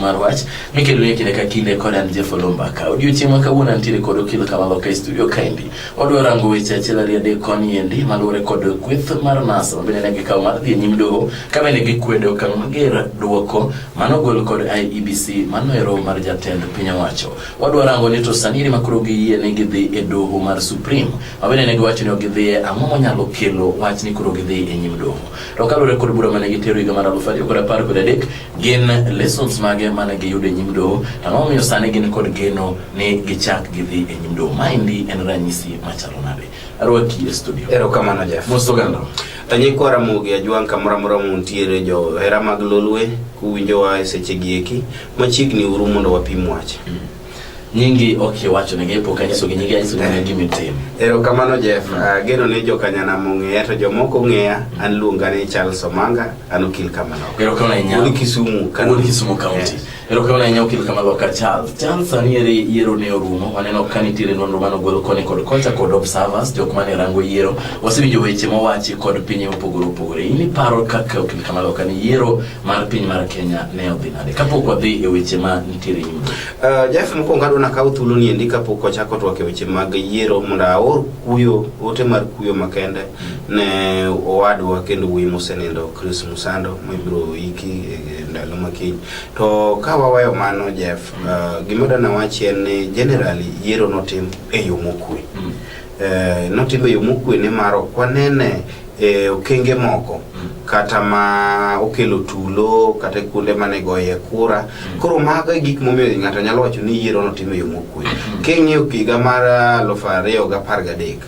mar wach mikelo e kinde ka kinde kod an Jeff Olomba ka odiochieng' ma kawuono antiere kod okil Kamalo ka e studio kaendi odwa rango weche achiel ariyo adek koni endi maluwore kod kweth mar NASA ma bende ne gikawo mar dhi e nyim doho ka bende gikwedo okang' mager dwoko mano gol kod IEBC mano e roho mar jatend piny owacho wadwa rango ni to sani eri ma koro giyie ni gidhi e doho mar Supreme ma bende ne giwacho ni ok gidhiye ang'o monyalo kelo wach ni koro gidhi e nyim doho To kaluwore kod bura mane gitero higa mar aluf ariyo kod apar kod adek, gin lessons mage mane giyudo e nyim doho? Ang'o momiyo sani gin kod geno ni gichak gidhi e nyim doho? Maendi en ranyisi machalo nade? Arwaki e studio. Erokamano Jeff. Mos oganda. Anyikwa Ramogi Ajwang' kamoro amora muntiere johera mag Lolwe kuwinjowa e sechegi eki, machiegni uru mondo wapim wach. nyingi ok iwacho ne gepo ka nyiso gi nyingi nyiso gi nyingi mitim erokamano Jeff mm. uh, geno ni joka nyana mong'eya to jomoko ng'eya an luonga ni Charles Omanga an okil kamano erokamano ahinya wuod Kisumu kan wuod Kisumu county erokamano ahinya okil kamano ka Charles Charles sani ere yiero ne orumo waneno ka nitiere nonro mano golo koni kod kocha kod observers jok mane rango yiero wasewinjo weche mowachi kod pinye mopogore opogore in iparo kaka okil kamano kan yiero mar piny mar Kenya ne odhi nade kapok wadhi e weche ma nitiere nyime? Uh, Jeff mokwongo adwa nakaw thuolo ni endi kapok wachako twak e weche mag yiero mondo aor kuyo ote mar kuyo makende mm. ne owadwa kendo wuoyi mosenindo Chris Musando mibiro iki e, e ndalo makiny to ka waweyo mano Jeff uh, gima dana wachi en ni generally yiero notim e yo mokwe mm. Eh, notimo e yo mokwe nimar ok wanene e okenge moko kata ma okelo tulo kata kuonde mane goye kura koro mago e gik momiyo ng'ato nyalo wacho ni yiero notimo e yo mokwe king'iyo higa mar aluf ariyo gi apar gadek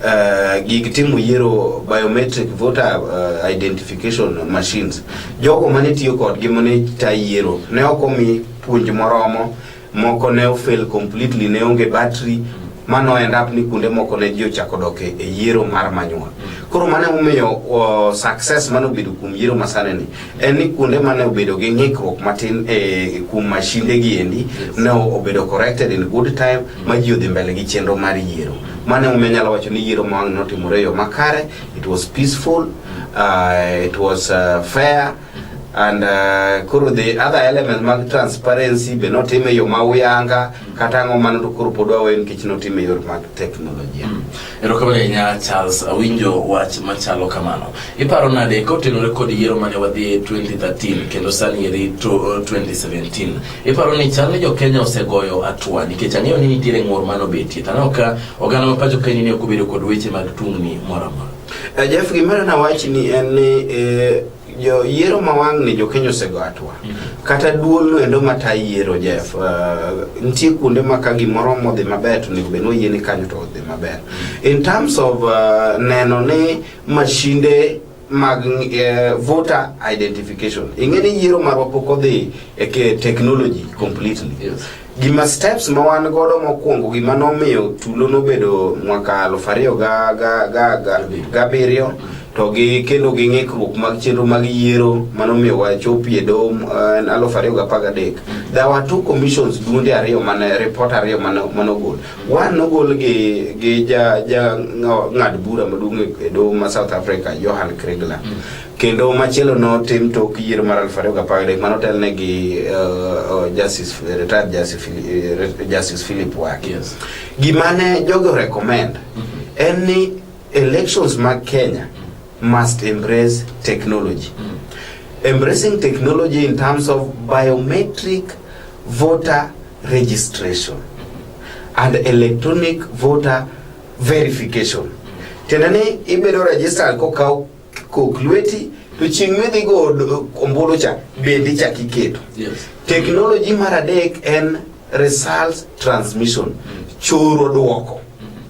eh, gig timo yiero biometric voter eh, identification machines jogo mane tiyo kodgi mane ta yiero ne ok omi puonj moromo Moko ne ofail completely, ne onge battery mano end up ni kuonde moko ne ji ochako dok e, e yiero mar manyuol. Koro mane omiyo uh, success mane obedo kuom yiero masane ni en ni kuonde mane obedo gi ng'ikruok matin e kuom mashinde gi endi ne obedo corrected in good time ma ji odhi mbele gi chenro mar yiero. Mane omiyo nyalo wacho ni yiero ma wang' notimore yo makare, it was peaceful, uh, it was uh, fair and uh, koro the other element mag transparency be notime yo ma uyanga kata ang'o mano to koro pod wawe nikech notime yor mag teknolojia mm. erokamano ahinya charles awinjo wach machalo kamano iparo nade kotenore kod yiero mane wadhi e 2013 kendo sani eri 2017 iparo ni chal ni jokenya osegoyo atua nikech ang'eyo ni nitiere ng'ur manobetie taneno ka oganda ma pacho kaini ni ok obedo kod weche mag tungni moro amora Eh, Jeff, gima na wach ni en ni eh, jo yiero ma wang' ni jo Kenya osego atwa. Mm-hmm. Kata duol no endo ma ta yiero Jeff. Uh, nitie kuonde ma ka gimoro modhi maber to nego beno yie ni kanyo to odhi maber. Mm-hmm. In terms of uh, neno ni mashinde mag uh, voter identification. Ing'e ni yiero marwa pok odhi e technology completely. Yes. Gima steps ma wan godo mokwongo gima nomiyo tulo nobedo mwaka aluf ariyo ga- ga- ga- ga- gabiriyo to gi kendo gi ng'ikruok mag chenro mag yiero manomiyo wachopie doho eh, aluf ariyo gapar gadek there were two commissions duonde ariyo mane report ariyo mane mane ogol one nogol gi gi ja ja ng'ad bura maduong' e doho ma South Africa Johan Kriegler kendo machielo notim tok yiero mar aluf ariyo gapar gadek mane otelne gi uh, uh, justice retired justice, Phili- uh, justice philip waki Yes. gimane jogo recommend en ni elections mag kenya must embrace technology embracing technology in terms of biometric voter registration and electronic voter verification tiende ni ibedo registered kokaw kok lweti to chieng' midhi go ombulu cha bende ichak iketo Yes. teknoloji mar adek en results transmission choro dwoko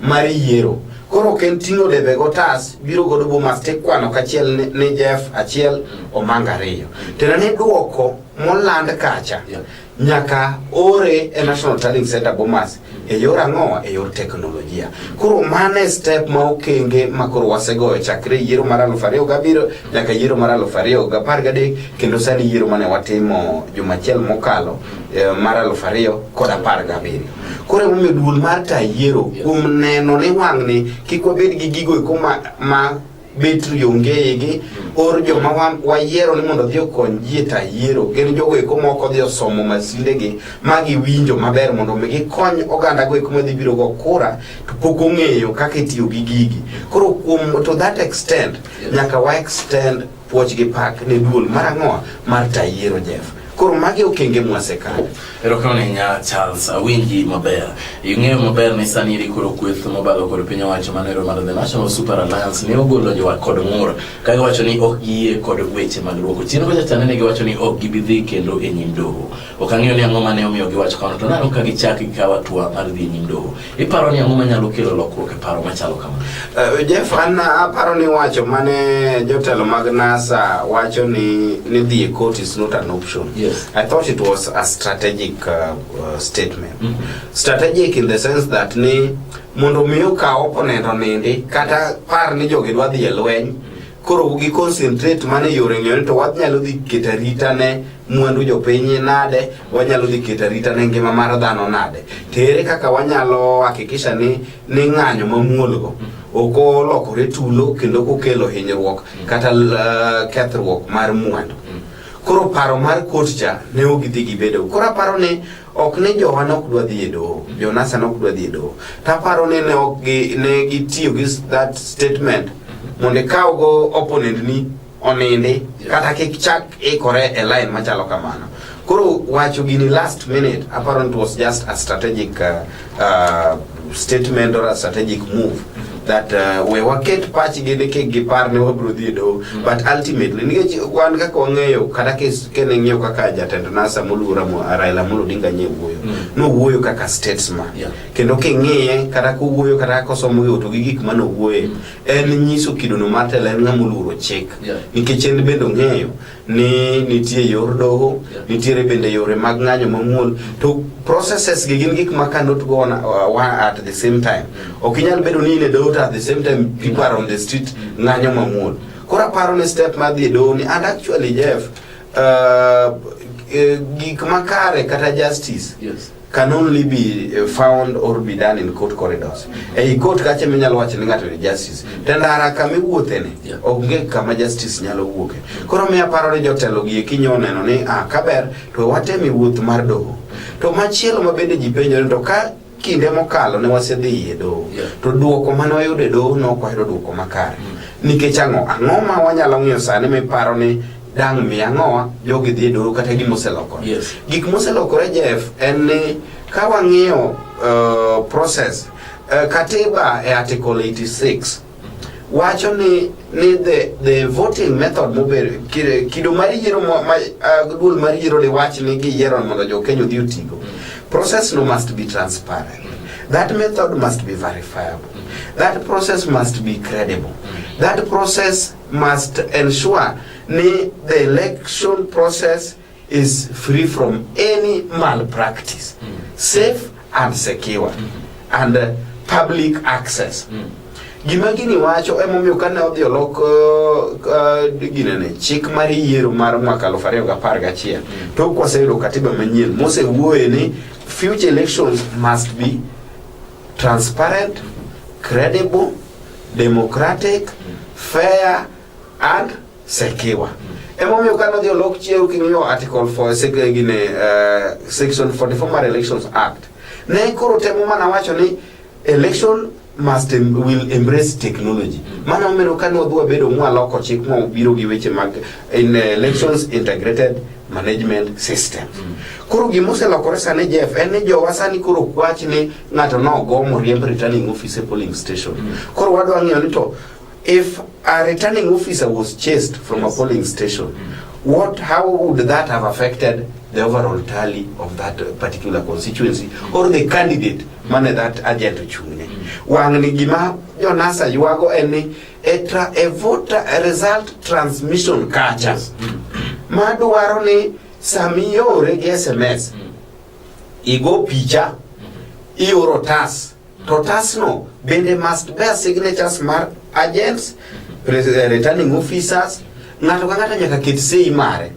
mar yiero koro ok en ting'o debe gotas biro godo bomas tikwano kachiel ni- ni jeff achiel omanga ariyo tena ni dwoko moland kacha Yeah. nyaka ore e National Tallying Center Bomas e yor ang'owa e yor teknolojia. Koro mano e step ma okenge ma koro wasegoyo chakre yiero mar aluf ariyo gabiriyo nyaka yiero mar aluf ariyo gapar gadek kendo sani yiero mane watimo juma achiel mokalo e, mar aluf ariyo kod apar gabiriyo. Koro emomiyo duol mar ta yiero kuom neno ni wang'ni kik wabed gi gigo eko ma, ma betri onge igi or joma wayiero ni mondo odhi okony ji to ayiero gin jogo eko moko odhi osomo masindegi ma giwinjo maber mondo mi gikony oganda go eko madhi biro go kura to pok ong'eyo kaka itiyo gi gigi koro kuom to that extent nyaka wa extend puoch gi pak ne duol mar ang'owa mar tayiero Jeff Koro magi okenge mwasekawo. Erokamano ahinya Charles, awinji maber. Ing'eyo maber ni sani iri koro kweth mobalo kod piny owacho manero mar The National Super Alliance ne ogolo jowa kod ng'ur ka giwacho ni ok giyie kod weche mag dwoko chien kocha chane ne giwacho ni ok gibi dhi kendo e nyim doho. Ok ang'eyo ni ang'o mane omiyo giwacho kamano to nano ka gichak gikawo atua mar dhi e nyim doho. Iparo ni ang'o manyalo kelo lokruok e paro machalo kamano? Uh, Jeff, an aparo ni wacho mane jotelo mag NASA wacho ni ni dhi e court is not an option. Yes. I thought it was a strategic uh, uh, statement. Mm -hmm. Strategic in the sense that ni mondo mi okaw opponent onindi kata par ni jogi dwa dhi e lweny koro gi concentrate mane yore ng'eyo to wanyalo dhi keto arita ne mwandu jopiny nade wanyalo dhi keto arita ne ngima mar dhano nade to ere kaka wanyalo hakikisha ni ni ng'anyo mamuolgo ok olokore tulo kendo kokelo hinyruok kata uh, kethruok mar mwandu koro paro mar kot cha ne ok gidhi gibedo koro aparo ni ok ni jowa ne ok dwa dhi e doho jonasa ne ok dwa dhi e doho to aparo ni ne ok gi- ne gitiyo gi s- that statement mondo ikawgo opponent ni onindi kata kik chak ikore e line machalo kamano koro wacho gini last minute aparo ni it was just a strategic uh, uh, statement or a strategic move that uh, we waket pachgi ni kik gipar ni wabiro dhi e doho mm. but ultimately nikech wan kaka wang'eyo kata kene ng'iyo kaka jatend nasa moluora Raila Amolo Odinga nye wuoyo mm. nowuoyo kaka statesman yeah. kendo king'iye kata kowuoyo kata kaka osomo gi to gi gik ma nowuoye mm. en nyiso kidono mar telo en ng'ama oluoro chik yeah. nikech en bende ong'eyo ni nitie yor doho nitiere bende yore mag ng'anyo mamuol to processes gi gin gik ma cannot go on uh, one at the same time ok inyal bedo ni in e doho to at the same time people are on the street ng'anyo mamuol koro aparo ni step mar dhi e doho ni and actually jeff uh, eh, gik makare kata justice Yes. can only be uh, found or be done in court corridors. Ei court kache minyalo wacho ni ng'ato ni justice. To ndara kama iwuothe ni onge kama justice nyalo wuoke. Koro miya paro ni jotelo gi kinyo neno ni ah kaber to watemi wuoth mar doho. To machielo ma bende ji penjore to ka kinde mokalo ne wasedhi e doho to duoko mane wayudo e doho ne ok wayudo duoko makare. Mm. Nikech ang'o? Ang'o ma wanyalo ng'iyo sani miparo ni dang' mi ang'owa jogi dhi e doho kata gima oselokore Yes. gik moselokore jef en ni ka wang'iyo uh, process uh, katiba e article 86 wacho ni ni the, the voting method mobedo kire- kido mar yiero mo- ma, uh, duol mar yiero ni wach ni giyiero mondo jokenya odhi otigo process no must be transparent that method must be verifiable that process must be credible that process must ensure ni the election process is free from any malpractice mm. safe and secure mm -hmm. and uh, public access mm. gima gini wacho emomiyo kane odhi olok uh, uh, ginene chik mar yiero mar mwaka aluf ariyo gi apar gachiel mm. to kwaseyudo katiba manyien mosewuoye ni future elections must be transparent, credible, democratic, fair and secure. Emomiyo ka nodhi olok chiew king'iyo article 4 sek- gine eh, section 44 mar elections act ne koro temo mana wacho ni election must em- will embrace technology mano omero ka nodhi wabedo mwaloko chik mwabiro gi weche mag in elections integrated management system. Mm. Koro gima oselokore sani Jeff en ni jowa sani koro kwach ni ng'ato nogo moriemb returning officer polling station. Mm. Koro wadwa ng'eyo ni to if a returning officer was chased from a polling station mm. what how would that have affected the overall tally of that particular constituency mm. or the candidate mane that agent ochung'ne. Mm. Wang'ni gima Jonasa ywago en ni e, tra, e voter e result transmission kacha madwaro ni samiore gi sms igo picha ioro tas to tasno bende must bear signatures mar agents pres- eh, returning officers ng'ato ka ng'ato nyaka ket sei mare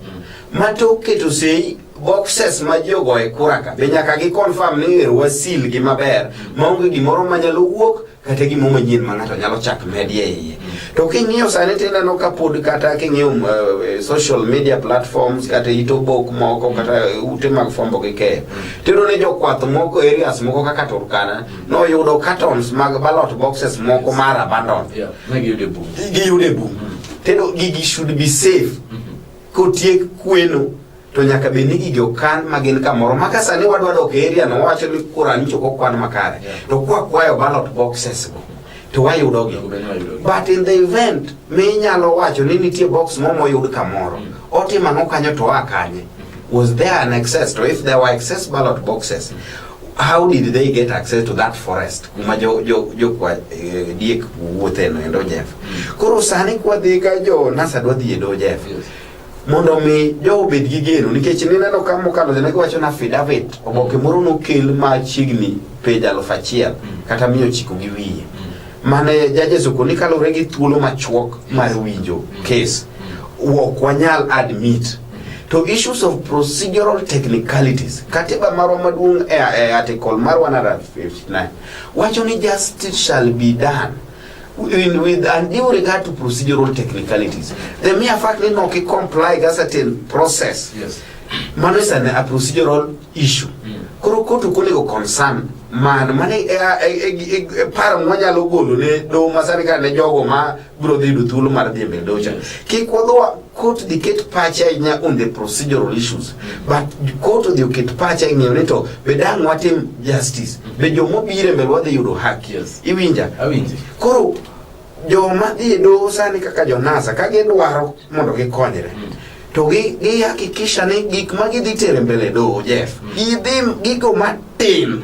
ma tok keto sei boxes ma ji ogoye kuraka be nyaka gi confirm ni ero wasilgi maber maonge gimoro manyalo wuok kata gimo manyien ma ng'ato nyalo chak medie iye to king'iyo sani tineno ka pod kata king'iyo um, eh, social media platforms kata it obok moko kata ute mag fombo gi keyo tiyudo ni jokwath moko areas moko kaka turkana noyudo cartons mag ballot boxes moko mar abandon Yeah, ne giyudo e bungu. giyudo e bungu tendo gigi should be safe kotiek kweno to nyaka bed ni gigi okan ma gin kamoro ma ka sani wadwa dok e area no wawacho ni kurani choko kwan makare to kwa kwayo ballot boxes go to wayudo gi but in the event minyalo wacho ni nitie box mo moyud kamoro mm. otimo ang'o kanyo to oa kanye mm-hmm. was there an excess to if there were excess ballot boxes mm. how did they get access to that forest kuma jo jo jo kwa eh, diek wuothe no endo Jeff mm. koro sani kwa dhi ka jo nasa dwa dhi e do Jeff yes. mondo omi jogo obed gi geno nikech nineno ka mokalo jana giwacho na affidavit oboke moro nokel ma chiegni pej aluf achiel kata miya ochiko gi wiye mane jajes okoni kaluwore gi thuolo machuok mar winjo kes ok wanyal admit to issues of procedural technicalities katiba marwa maduong' e e article mar 159 wacho ni justice shall be done in, with undue regard to procedural technicalities. The mere fact that no comply with a certain process. Yes. Mano is an, a procedural issue. Mm. Koro kotu kule go concern man mane e, e, e, par mwanyalo golo ne do masani ka ne jogo ma bro dhi duthulu mar dhi mbele docha. Kik wadwa Court dhi ket pache ahinya on the procedural issues but court odhi oket pache ahinya ni to be dang' watim justice be jomobire mbele wadhi yudo haki yes. iwinja awinji koro joma dhi e doho sani kaka jonasa ka gidwaro mondo gikonyre mm. to gihakikisha ni gik ma gidhi tere mbele doho jeff mm. gidhi gigo matin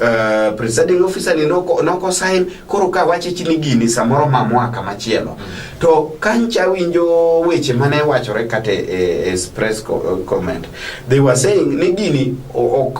Uh, presiding officer ni noko, noko sign koro ka wache chini gini samoro ma mwaka machielo mm. to kancha winjo weche mane wachore kate e, e press uh, comment they were saying ni gini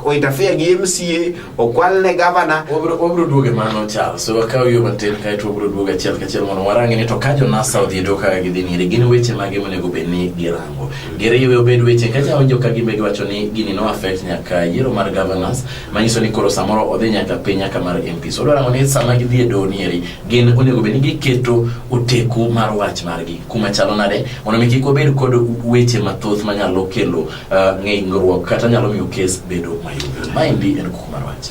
oitafia gi MCA okwal ne governor obro duoge mano chal so wakaw yo matin kae to obro duoge achiel kachiel mondo warangi ni to ka jo NASA odhi do ka gidhi nire gin weche mage monego bed ni girango giriwe obed weche kacha winjo ka gimbe giwacho ni gini no affect nyaka yiero mar governors manyiso ni koro samoro odhi nyaka piny nyaka mar MPs. Odwa rango ni sama gidhi e doho nieri gin onego bed ni giketo oteku mar wach margi kuma chalo nade mondo mi kik wabed kod weche mathoth manyalo kelo uh, ng'ingruok kata nyalo miyo kes bedo mayom. Maendi en kuku mar wach.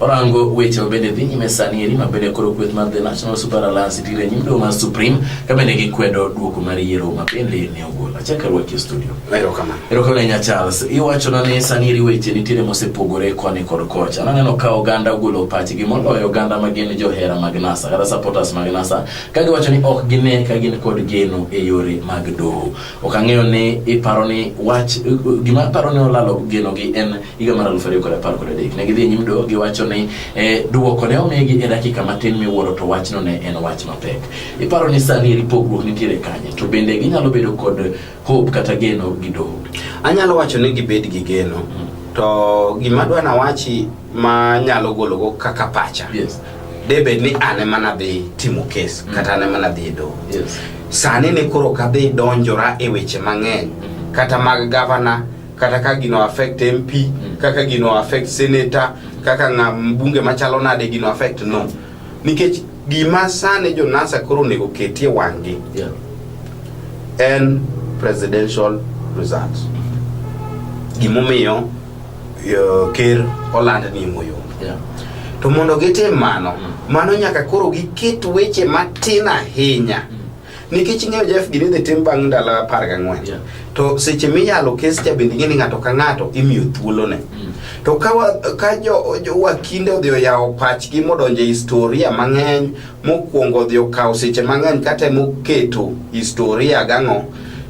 Orango weche mabende dhi nyime sani eri mabende koro kweth mar The National Super Alliance dire nyim doho mar Supreme kabende gikwedo duoko mar yiero mabende ne ogol. Achak arwaki e studio. Erokamano. Erokamano ahinya Charles. Iwachona ni sani eri weche nitiere mosepogore koni kod kocha. Naneno ka oganda ogolo pachgi moloyo oganda ma gin johera mag NASA kata supporters mag NASA ka giwacho ni ok gine ka gin kod geno e yore mag doho. Ok ang'eyo ni iparo ni wach gima aparo ni olalo geno gi en higa mar aluf ariyo kod apar kod adek ne gidhi nyim do giwacho ni eh, duoko ne omigi e dakika matin miwuoro to wachno ne en wach mapek iparo ni sani eri pogruok nitiere kanye to bende ginyalo bedo kod hope kata geno gi doho anyalo wacho ni gibed gi geno to gima dwa nawachi ma nyalo gologo kaka pacha yes. debed ni an ema nadhi timo kes mm. kata an ema nadhi e doho yes. sani ni koro kadhi donjora e weche mang'eny mm. kata mag gavana kata ka gino affect mp mm. kaka gino affect senator kaka ng'a mbunge machalo nade gino affect no nikech gima sani jonasa koro onego ketie wang'gi yeah. en presidential results gimomiyo uh, ker oland ni moyo yeah. to mondo gitim mano mm. mano nyaka koro giket weche matin ahinya mm. nikech ing'eyo jef gini dhi tim bang' ndalo apar gang'wen yeah. to seche miyalo kes cha bende ing'eni ng'ato ka ng'ato imiyo thuolone mm. to ka, wa, ka jo, jo wakinde odhi oyawo pachgi modonje historia mang'eny mokwongo odhi okawo seche mang'eny katemo keto historia gang'o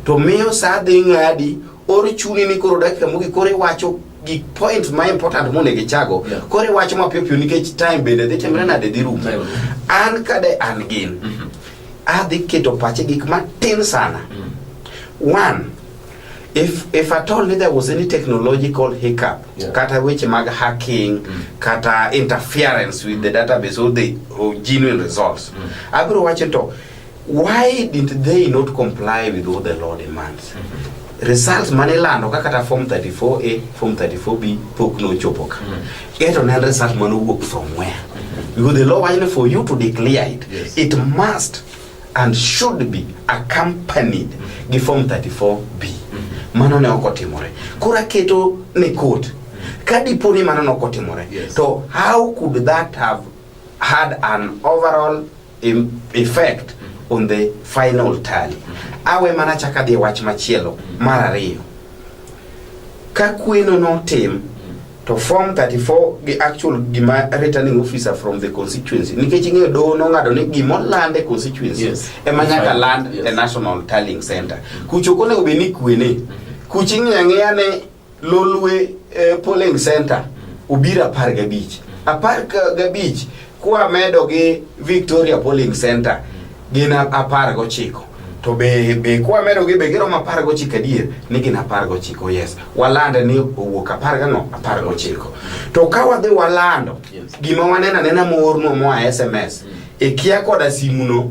to miyo sa dhi ng'adi Oro chuni ni koro dakika mogik koro iwacho gik point ma important monego ichago yeah. koro iwacho mapiyo piyo nikech time bende dhi timre nade dhi rumo an kade an gin mm -hmm. adhi keto pache gik matin sana mm -hmm. one if if at all there was any technological hiccup yeah. kata weche mag hacking mm -hmm. kata interference with the database or the or genuine results mm -hmm. abiro wacho to Why did they not comply with what the law demands? Mm-hmm. Results mane lando kaka ta form 34A, form 34B pok no chopo ka. Mm-hmm. Eto ne result mane owuok from where? Mm-hmm. Because the law wajne for you to declare it, yes. it must and should be accompanied gi form 34B. Mano ne ok otimore. Koro aketo ne court ka dipo ni mano ne ok otimore to how could that have had an overall effect on the final tally. Awe mana chaka dhi wach machielo mar ariyo. Ka kweno notim to form 34 gi actual gima returning officer from the constituency nikech ing'eyo doho nong'ado ni gima oland e constituency yes. ema nyaka land yes. e national tallying center kucho konego bed ni kwene mm-hmm. kuch ing'eyo ang'eya ni Lolwe eh, polling center obiro apar gabich apar ka- gabich kwa medo gi Victoria polling center gin a- apar gochiko to be be kwa medo gi be giromo apar gochiko adier ni gin apar gochiko yes walande ni owuok apar gang'o apar gochiko to ka wadhi walando Yes. gima waneno anena moorno moa sms ikia koda simuno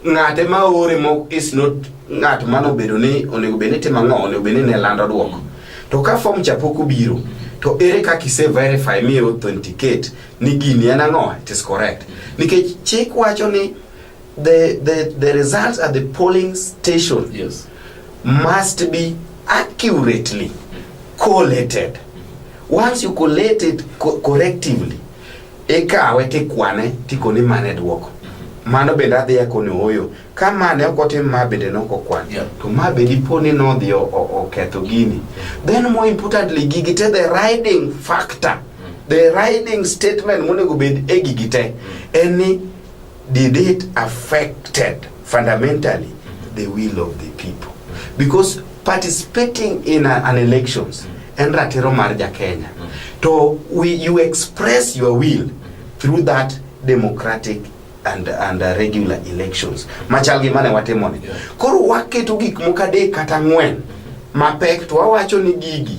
ng'ate ma ore mo is not ng'at mano obedo ni onego bed ni timo ang'o onego bed ni ne lando dwoko to ka form cha pok obiro to ere kaka ise verify mi authenticate ni gini en ang'o it is correct nikech chik wacho ni the, the, the results at the polling station Yes. must be accurately collated. Once you collate it co- correctively, ikawe tikwane tikoni mane dwoko mano bende adhi akone oyo ka mane ok otim ma bende noko kwan yeah. to ma bende iponi nodhi oketho gini then more importantly gigi te the riding factor mm. the riding statement monego bed e gigi te mm. en ni did it affected fundamentally the will of the people because participating in a, an elections en ratiro mar ja Kenya to we, you express your will through that democratic and, and uh, regular elections machal gi mane watimoni koro waketo gik moko adek kata ang'wen mapek to wawacho ni gigi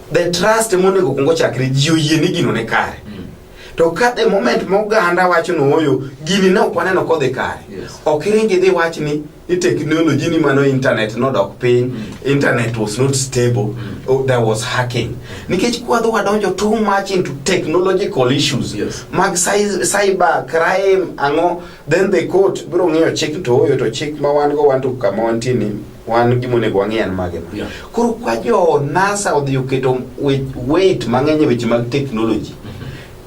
The trust monego kungo chakre ji oyie ni gino ne kare. Mm. To ka the moment moganda wacho ni oyo gini ne ok waneno kodhi kare. Yes. Ok iringi dhi wach ni ni technology ni mano internet nodok piny, mm. internet was not stable, mm. oh, there was hacking. Nikech kwadho wadonjo too much into technological issues. Yes. Mag cyber crime ang'o then the court biro ng'iyo chik to oyo to chik ma wan go wan to kama wantie ni wan gima onego wang'e en mage ma Yeah. koro kwa jo nasa odhi oketo we- weight mang'eny e weche mag technology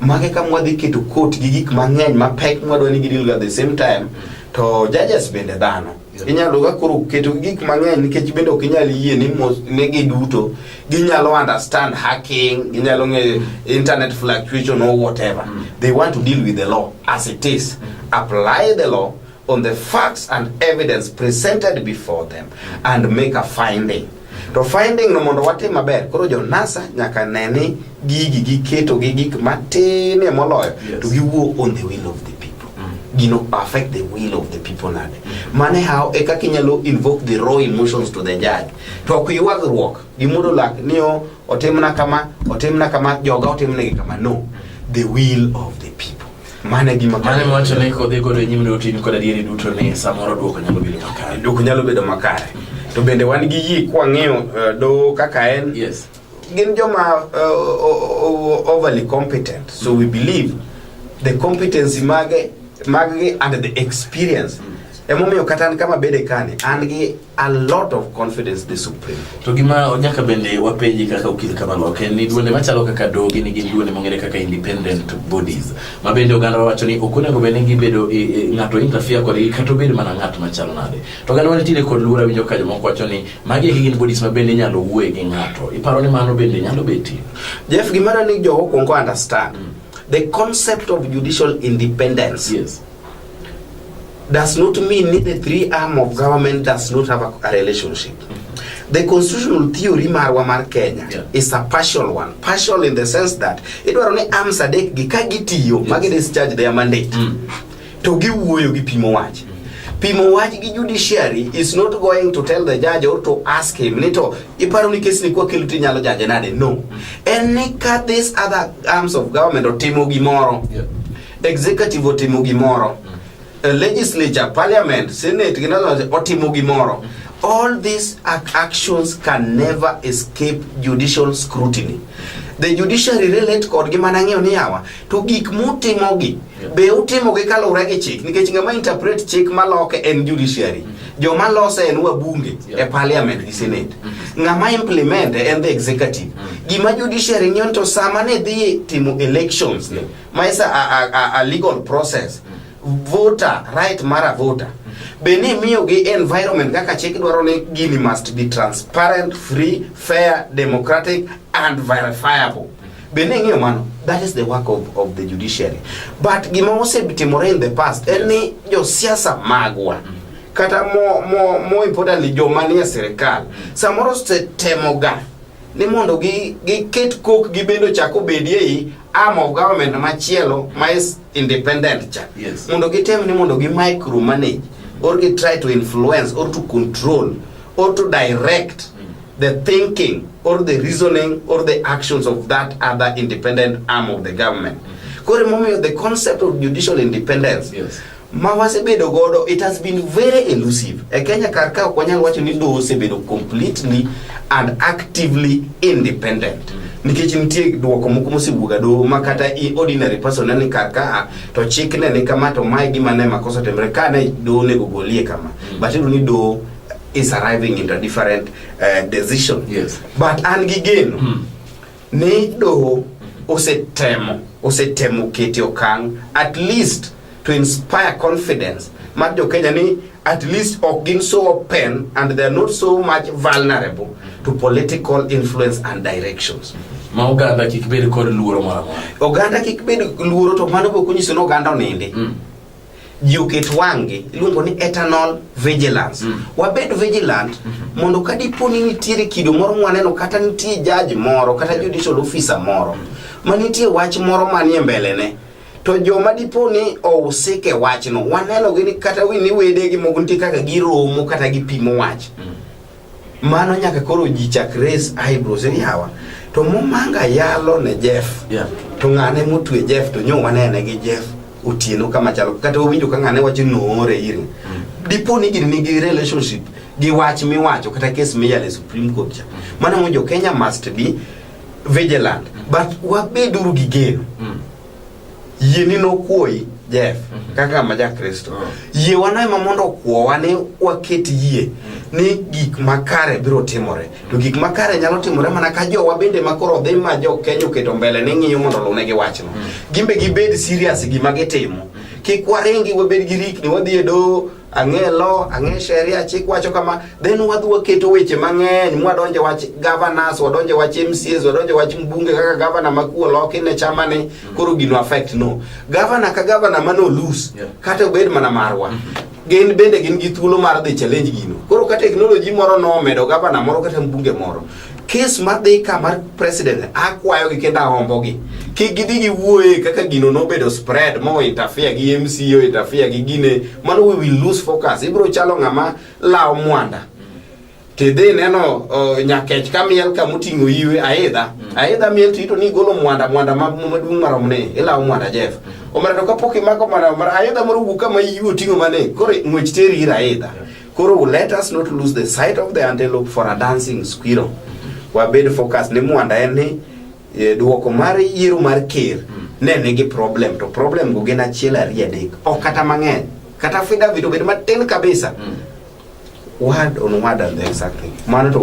mage ka mwadhi keto court gi gik mang'eny mapek mwadwa ni gidilga the same time to judges bende dhano Inyalo ga koro keto gik mang'eny nikech bende ok inyal yie ni mos- ni giduto ginyalo understand hacking, ginyalo ng'eyo internet fluctuation or whatever. They want to deal with the law as it is. Apply the law on the facts and evidence presented before them and make a finding. To finding no mondo watim maber, koro jo NASA nyaka ne ni gigi giketo gi gik matine moloyo yes. to giwuo on the will of the people. Mm. You know, affect the will of the people nade. Mm. Mane how e kaka inyalo invoke the raw emotions to the judge. To ok ywagruok gi mudo lak ni o otimna kama, otimna kama, joga otimnegi kama. No. Mm. The will of the people. Mano e gima Mano iwacho ni kodhi godo e nyim lweti in kod adieri duto ni samoro dwoko nyalo bedo makare. dwoko nyalo bedo makare. To bende wan gi yie kwang'iyo eh, doho kaka en Yes. gin joma uh, o- o- overly competent so we believe the competency mage maggi and the experience emomiyo kata an kama bede kani an gi a lot of confidence the Supreme Court. To gima onyaka bende wapenji kaka okil kamano ok en ni duonde machalo kaka dogi ni gin duonde mong'ere kaka independent bodies ma bende oganda wacho ni ok onego bende gibedo e, e, ng'ato interfere kodgi kata obed mana ng'at machal nade to oganda wanitiere kod luora winjo ka jomoko wacho ni magi eki gin bodies ma bende inyalo wuoye gi ng'ato iparo ni mano bende nyalo betie Jeff gimara ni jogo kwongo understand mm. the concept of judicial independence yes does not mean ni the three arm of government does not have a, a relationship. The constitutional theory marwa mar Kenya Yeah. is a partial one. Partial in the sense that idwaro ni arms adek gi ka gitiyo ma gi discharge their mandate to giwuoyo gi pimo wach. Pimo wach gi judiciary is not going to tell the judge or to ask him ni to iparo ni kes ni kwa kelo to inyalo judge nade. No. En ni ka this other arms of government otimo gimoro Yeah. Executive otimo gimoro. A eh, legislature, parliament, senate, otimo gimoro. All these actions can never escape judicial scrutiny. The judiciary relate kod gi mana ng'eyo ni yawa to gik mutimo gi be utimo gi kaluwre gi chik nikech ng'ama interpret chik maloke en judiciary. Joma lose en wabunge e parliament gi senate. Mm-hmm. Ng'ama implement en the executive. Mm-hmm. Gima judiciary ng'iyo to sama ne dhi timo elections ne ma is a, a, a, a legal process voter right mar a voter be ni imiyogi environment kaka chik dwaro ni gini must be transparent free fair democratic and verifiable be ni ing'iyo mano that is the work of, of the judiciary but gima osetimore in the past en ni josiasa magwa kata mo, mo, mo importantly joma nie sirikal samoro setemoga ni mondo giket kok gi bende ochak obedi ei arm of government machielo ma is independent cha yes. mondo gitem ni mondo gi micro manage or gi try to influence or to control or to direct mm. the thinking or the reasoning or the actions of that other independent arm of the government mm -hmm. kore momiyo the concept of judicial independence yes. ma wasebedo godo it has been very elusive e kenya kar ka ok wanyal wacho ni doho osebedo completely and actively independent nikech nitie dwoko moko mosewuoga doho ma kata i ordinary person ne ni kar ka to chik ne ni kama to mae gima ne makosa otimre ka ne doho onego golie kama but iyudo ni doho is arriving into a different uh, decision Yes. but an gi geno ni doho osetemo osetemo kete okang at least to inspire confidence mar jo Kenya ni at least ok gin so open and they are not so much vulnerable to political influence and directions ma oganda kik bed kod luoro moro amora oganda kik bed luoro to mano bok onyiso ni oganda onindi mm. ji oket wang'gi iluongo ni eternal vigilance mm. wabed vigilant mm -hmm. mondo ka dipo ni nitiere kido moro mwaneno kata nitie jaji moro kata judicial officer moro mm. ma nitie wach moro manie mbelene to joma dipo ni ousik e wachno wanenogi ni kata ni wedegi moko nitie kaka giromo kata gipimo wach mm. mano nyaka koro ji chak res eyebrows ni yawa to momanga yalo ne jeff yeah. to ng'ane motwe jeff to nyo wanene gi jeff otieno kama chalo kata owinjo ka ng'ane wacho noore iri mm. dipo ni gini nigi relationship gi wach miwacho kata kes miyale supreme court cha mm. mano mo jo kenya must be vigilant mm. but wabeduru gi geno mm. yie ni nokwoyi Jeff mm -hmm. kaka ma ja Kristo mm. yie wana ema mondo okwowa ni waket yie mm. ni gik makare biro timore mm. to gik makare nyalo timore mana ka jowa bende makoro dhi ma jo Kenya oketo mbele ni ng'iyo mondo lune gi wachno mm. gimbe gibed serious gima gitimo mm. kik waringi wabed gi rikni wadhi e doho ang'e law ang'e sheria chik wacho kama then wadhi waketo weche mang'eny mwadonje wach governors wadonje wach MCAs wadonje wach mbunge kaka governor ma kuo loki ne chama ni mm. koro gino affect no governor ka governor ma no lose yeah. kata obed mana marwa mm -hmm. gin bende gin gi thuolo mar dhi challenge gino koro ka technology moro no medo governor moro kata mbunge moro kes madhi ka mar president akwayogi kendo ahombogi kik gidhi giwuoye kaka gino nobedo spread mo interfere gi MCO interfere gi gine mano we will lose focus ibro chalo ng'ama lawo mwanda tidhi neno uh, nyakech ka miel ka moting'o iwe aidha mm. aidha miel tito ni golo mwanda mwanda maduong' marom ne ilawo mwanda jeff mm. omera to kapok imako mwanda omera aidha moro wuok kama iwe oting'o mane koro ng'wech teri ir aidha yeah. Koro let us not lose the sight of the antelope for a dancing squirrel. Wabed focus ni mwanda en ni e, duoko mar yiero mar ker hmm. ne nigi problem to problem go gin achiel ariyo adek ok kata mang'eny kata fida vito bed matin kabisa hmm. word on word and then something mano to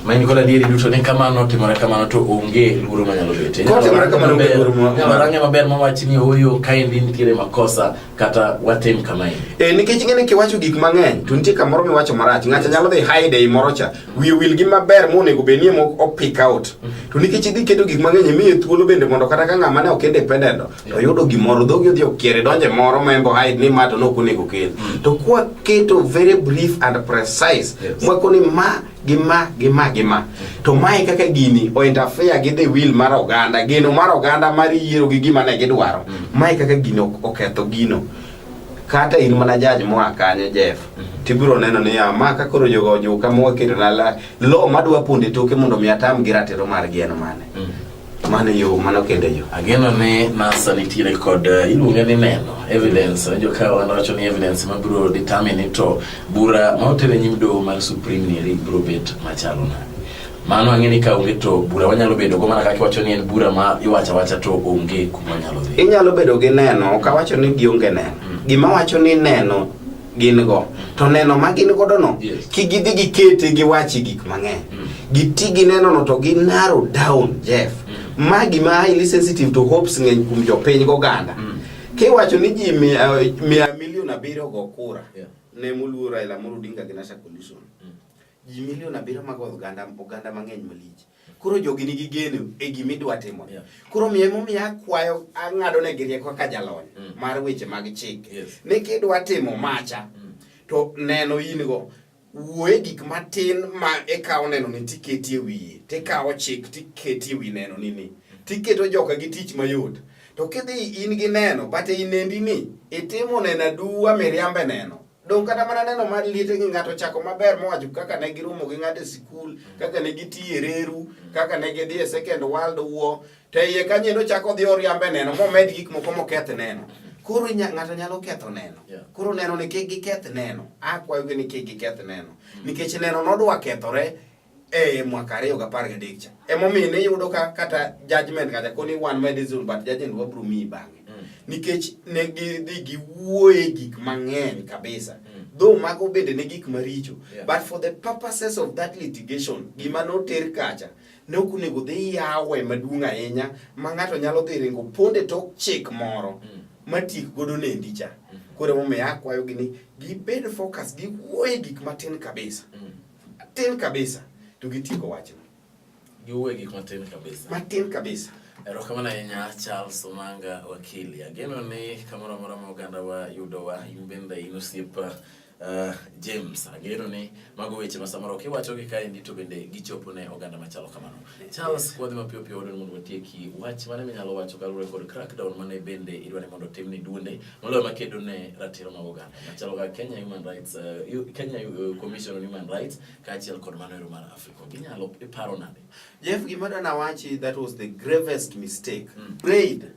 ma in kod adieri duto ni kamano timore kamano to onge luoro manyalo bete kotimore kamano onge luoro moro nyalo range maber mawach ni oyo kaendi nitiere makosa kata watim kama e. Eh, nikech ing'e ni kiwacho gik mang'eny to nitie kamoro miwacho marach. Ng'acha nyalo dhi hide ei moro cha. Wiye wil gi maber monego be nie mok opick out. To nikech idhi keto gik mang'eny e miye thuolo bende mondo kata ka ng'ama ne ok independent to yudo gimoro dhogi odhi okiere donje moro ma embo hide ni ma to ne ok onego kel. Mm. To kwa keto very brief and precise. Yes. Mwako ni ma gi ma gi ma gi ma to mae kaka gini o interfere gi the will mar oganda geno mar oganda mar yiero gi gima ne gidwaro mm. mae kaka gino oketho gino kata in mana jaj moa kanyo Jeff mm-hmm. tibiro neno ni ya ah, ma ka koro jogo ojuka moketo na la lo madwa ponde toke mondo mi atam gi ratiro mar geno mane mm. Mano yo mano kende yo. Ageno ni NASA nitiere kod eh, iluonge ni neno evidence mm. joka wanawacho ni evidence ma biro determine to bura ma otere nyim doho mar supreme ni eri biro bet machalo na mano ang'e ni ka onge to bura wanyalo bedo go mana kaka iwacho ni en bura ma iwacha wacha to onge kuma nyalo dhi inyalo bedo gi neno ka wacho ni gionge neno mm. gima wacho ni neno gin go to neno ma gin godo no yes. ki gidhi gikete giwachi gik mang'eny mm. giti gi neno no to gi narrow down Jeff mm. ma gima highly sensitive to hopes ng'eny kuom jopiny goganda mm. kiwacho ni ji mia, mia milion abiriyo go kura yeah. ne moluo Raila Amolo Odinga gi Nasha Coalition mm. ji milion abiriyo mago oganda oganda mang'eny malich koro jogi nigi geno e gima idwa timo yeah. koro miyo emomiyo akwayo ang'ado ne gi rieko kaka jalony mm. mar weche mag chik yes. ni kidwa timo macha mm. to neno in go wuoye gik matin ma ikawo neno ni tiketi e wiye tikawo chik tiketi e wi neno ni ni tiketo joka gi tich mayot to kidhi in gi neno but inendi ni itimo neno aduwa miriambe neno Dong kata mana neno mar liete gi ng'ato chako maber mowacho kaka ne giromo gi ng'ato e sikul, kaka ne gitiyo e reru, kaka ne gidhi e Second World War, to iye kanyo endo chako odhi oriambe neno momed gik moko moketh neno. Koro ng'ato nyalo ketho neno. Koro neno ni kik giketh neno. Akwayogi ni kik giketh neno. Nikech neno nodwa kethore e mwaka ariyo gapar gadek cha emomiyo ne yudo ka kata judgment kata koni wan ma dizul but judgment wabro miyi bang'e mm. nikech ne gidhi giwuoye gik mang'eny kabisa mm. though mago bende ne gik maricho yeah. but for the purposes of that litigation gima noter kacha ne ok onego dhi yawe maduong' ahinya ma ng'ato nyalo dhi ringo ponde tok chik moro mm. matik godo nendi cha mm-hmm. koro emomiyo akwayogi ni gibed focus giwuoye gik matin kabisa mm. Tin kabisa to gitieko wachno. Giwuoye gik matin kabisa. Matin kabisa. Erokamano ahinya Charles Omanga wakili. Ageno ni kamoro amora ma oganda wa yudo wa in bende in osiep uh, James. Ageno ni mago weche ma samoro kiwacho gi kaendi to bende gichopo ne oganda machalo kamano. Charles kwadhi mapiyo piyo wadwani mondo watieki wach mane minyalo wacho kaluwore kod crackdown mane bende idwani mondo otim ni duonde moloyo makedo ne ratiro mag oganda machalo ka Kenya Human Rights uh, Kenya uh, Commission on Human Rights kaachiel kod mano ero mar Africa ginyalo iparo nade Jeff gima dana wachi that was the gravest mistake mm. prayed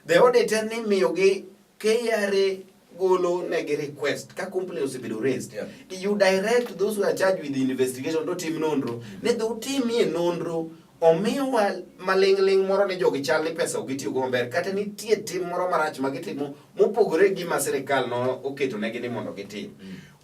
The auditor ni miyogi KRA golo negi request ka company osebedo raised yeah. you direct those who are charged with the investigation to tim nonro ne dhi utimie nonro omiwa maling'ling' moro ni jogi chal ni pesa ok gitiyogo maber kata nitie tim moro marach ma gitimo mopogore gi ma sirikal no oketonegi ni mondo gitim mm.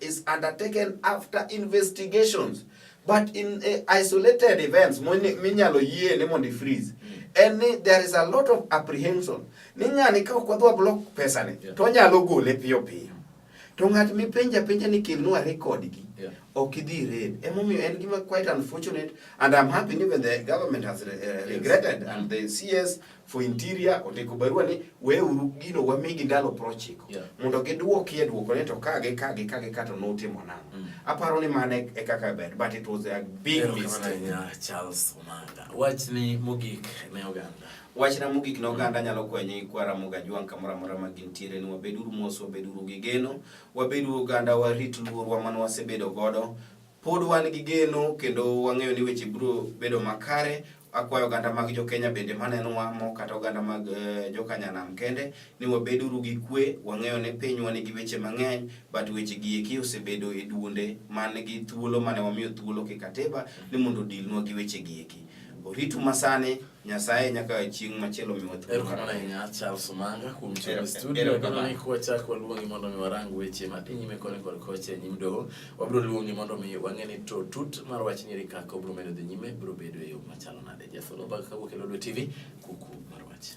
is undertaken after investigations but in uh, isolated events minyalo yie ni mondo freeze en ni there is a lot of apprehension ni ng'ani ka ok wadwa block pesani yeah. to onyalo gole piyo piyo to ng'at mipenja penja ni kelnwa record gi yeah. ok idhi red emomiyo en gima quite unfortunate and I'm happy even the government has re, uh, regretted yes. and the CS for interior ondiko barua ni weuru gino wamigi ndalo prochiko yeah. mondo gidwokie dwoko ne to kage kage kage kato notimo nang'o mm. aparo ni mano e, e kaka ber but it was a big mistake Charles Omanga wachni mogik ne oganda wachna mogik ne oganda nyalo kwenye kwara moga jwang' kamoro amora ma gintiere ni wabeduru mos wabeduru gi geno wabeduru oganda warit luorwa mane wasebedo godo Pod wan gi geno kendo wang'eyo ni weche biro bedo makare. Akwayo oganda mag jo-Kenya bende manenowa mo kata oganda mag eh, jokanyanam kende ni wabeduru gi kwe. Wang'eyo ni pinywa nigi weche mang'eny but weche gi eki osebedo e duonde man gi thuolo mane wamiyo thuolo kikatiba ni mondo odilnwa gi weche gi eki. Oritu masani Nyasaye nyaka chieng' machielo miwa thuolo. Erokamano ahinya Charles Omanga kuom tiyo e studio. Kendo ni kwa chako waluongi mondo mi warang weche madhi nyime koni kod kocha e nyim doho. Wabiro luongi mondo mi wang'e ni to tut mar wach nyeri kaka obiro medo dhi nyime biro bedo e yo machalo nade. Jafolo bag kawuok e Lodwar TV kuku mar wach.